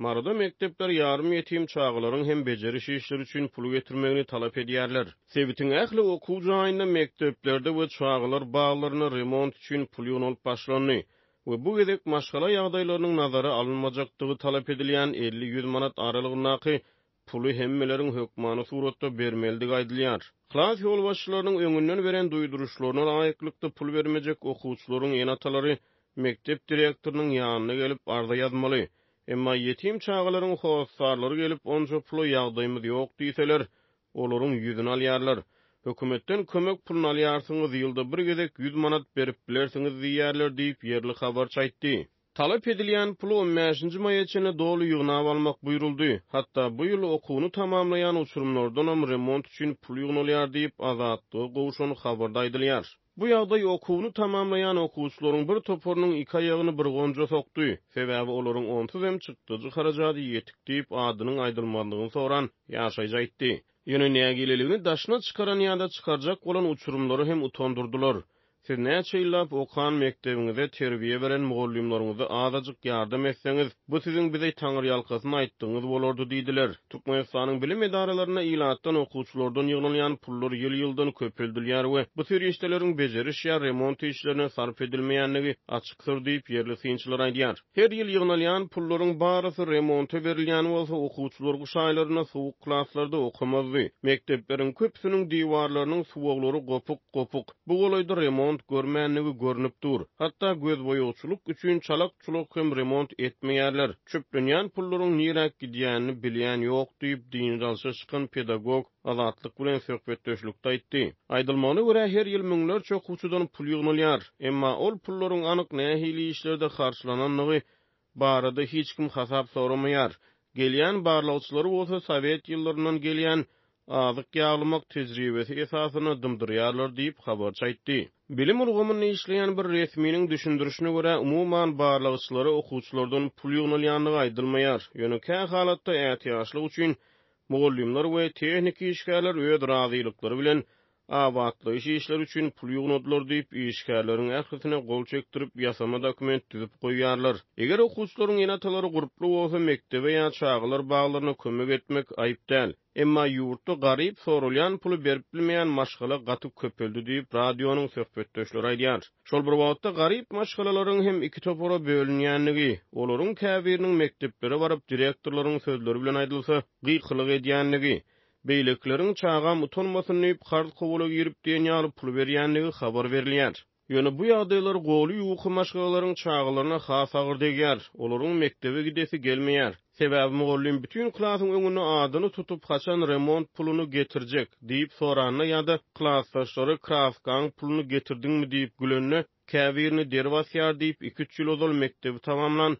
Maryda mekdepler ýarym ýetim çagalaryň hem bejeriş işleri üçin pul getirmegini talap edýärler. Sebitiň ähli okuw jaýynda mekdeplerde we çagalar baglarynda remont üçin pul ýygnalyp başlandy we bu gezek maşgala ýagdaýlarynyň nazara alynmajakdygy talap edilýän elli-ýüz manat aralygyndaky Puly hemmeleriň hökmany suratda bermelidigi aýdylýar. Klas ýolbaşçylarynyň öňünden beren duýduryşlaryna laýyklykda pul bermejek okuwçylaryň ene-atalary mekdep direktorynyň ýanyna gelip arza ýazmaly. Emma ýetim çagalaryň hossarlary gelip onça pula ýagdaýymyz ýok diýseler, olaryň ýüzüni alýarlar. Hökümetden kömek puluny alýarsyňyz, ýylda bir gezek ýüz manat berip bilersiňiz diýýärler diýip, ýerli habarçy aýtdy. Talap edilýän puly on bäşinji maýa çenli doly ýygnap almak buýruldy. Hatda bu ýyl okuwyny tamamlaýan uçurymlardanam remont üçin pul ýygnalýar diýip, Azatlyga gowşan habarda aýdylýar. Bu ýagdaý okuwyny tamamlaýan okuwçylaryň bir toparynyň iki aýagyny bir gonja sokdy. Sebäbi olaryň onsuz hem çykdajy harajady ýetik diýip, adynyň aýdylmazlygyny soran ýaşaýjy aýtdy. Ýöne nägileligini daşyna çykaran ýa-da çykarjak bolan uçurymlary hem utandyrdylar. Siz näçe ýyllap okan mekdebiňize, terbiýe beren mugallymlaryňyza azajyk ýardam etseňiz, bu siziň bize taňyrýalkasyn aýtdygyňyz bolardy diýdiler. Türkmenistanyň bilim edaralarynda ilatdan, okuwçylardan ýygnalýan pullar ýyl-ýyldan köpeldilýär we bu serişdeleriň bejeriş ýa remont işlerine sarp edilmeýändigi açykdyr diýip, ýerli synçylar aýdýar. Her ýyl ýygnalýan pullaryň barysy remonta berilýän bolsa, okuwçylar gyş aýlarynda sowuk klaslarda okamazdy. Mekdepleriň köpüsiniň diwarlarynyň suwaglary gopuk, gopuk. Bu golaýda remont görmändigi görnüp dur. Hatda gözboýagçylyk üçin çalak-çulak hem remont etmeýärler. Çöplenýän pullaryň niräk gidýänini bilýän ýok, diýip, dynç alşa çykan pedagog. Azatlyk bilen söhbetdeşlikde aýtdy. Aýdylmagyna görä, her ýyl müňlerçe okuwçydan pul ýygnalýar. Emma ol pullaryň anyk nähili işlerde harçlanandygy barada hiç kim hasap soramaýar. Gelýän barlagçylary bolsa sowet ýyllaryndan gelýän azyk ýaglamak tejribesi esasynda dymdyrýarlar diýip, habarçy aýtdy. Bilim ulgamynda işleýän bir resminiň düşündirişine görä, umuman barlagçylara okuwçylardan pul ýygnalýandygy aýdylmaýar. Ýöne kähalatda ätiýaçlyk üçin Mugallymlar we tehniki işgärler öz razylyklary bilen abatlaýyş işleri üçin pul ýygnadylar diýip, işgärleriň ählisine gol çekdirip, ýasama dokument düzüp goýýarlar. Eger okuwçylaryň ene-atalary gurply bolsa, mekdebe ýa çagalar baglaryna kömek etmek aýyp däl. Emma ýurtda garyp soralýan puly berip bilmeýän maşgala gaty köpeldi diýip, radionyň söhbetdeşleri aýdýar. Şol bir wagtda garyp maşgalalaryň hem iki topara bölünýändigi, olaryň käbiriniň mekdeplere baryp direktorlaryň sözleri bilen aýdylsa, gykylyk edýändigi, beýlekileriň çagam utanmasyn diýip karz-kowala girip diýen ýaly pul berýändigi habar berilýär. Ýöne bu ýagdaýlar goly ýuwky maşgalalaryň çagalaryna has agyr degýär, olaryň mekdebe gidesi gelmeýär. Sebäbi mugallym bütin klasyň öňünde adyny tutup, haçan remont puluny getirjek? diýip soranda ýa-da klasdaşlary kraskaň puluny getirdiňmi diýip gülende, Käbirini der basýar diýip, iki-üç ýyl ozal mekdebi tamamlan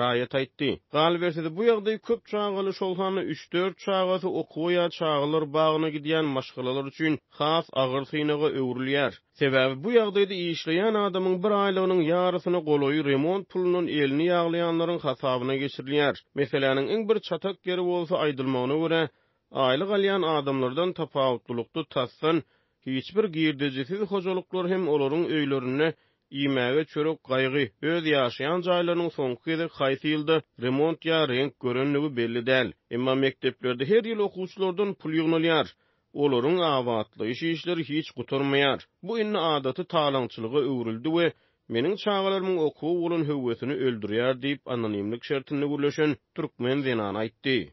raýat aýtdy. Galyberse-de, bu ýagdaý köp çagaly, şol sanda üç-dört çagasy okuwa ýa çagalar bagyna gidýän maşgalalar üçin has agyr synaga öwrülýär. Sebäbi bu ýagdaýda işleýän adamyň bir aýlygynyň ýarysyna golaýy remont pulundan elini ýaglaýanlaryň hasabyna geçirilýär. Meseläniň iň bir çatak ýeri bolsa, aýdylmagyna görä, aýlyk alýan adamlardan tapawutlylykda tasdan hiç bir girdejisiz hojalyklar hem olaryň öýlerinde iýmäge çörek gaýgy, öz ýaşaýan jaýlarynyň soňky gezek haýsy ýylda remont ýa reňk görendigi belli däl. Emma mekdeplerde her ýyl okuwçylardan pul ýygnalýar. Olaryň abatlaýyş işleri hiç gutarmaýar. Bu indi adaty talaňçylyga öwrüldi we meniň çagalarymyň okuwa bolan höwesini öldürýär diýip, anonimlik şertinde gürleşen türkmen zenany aýtdy.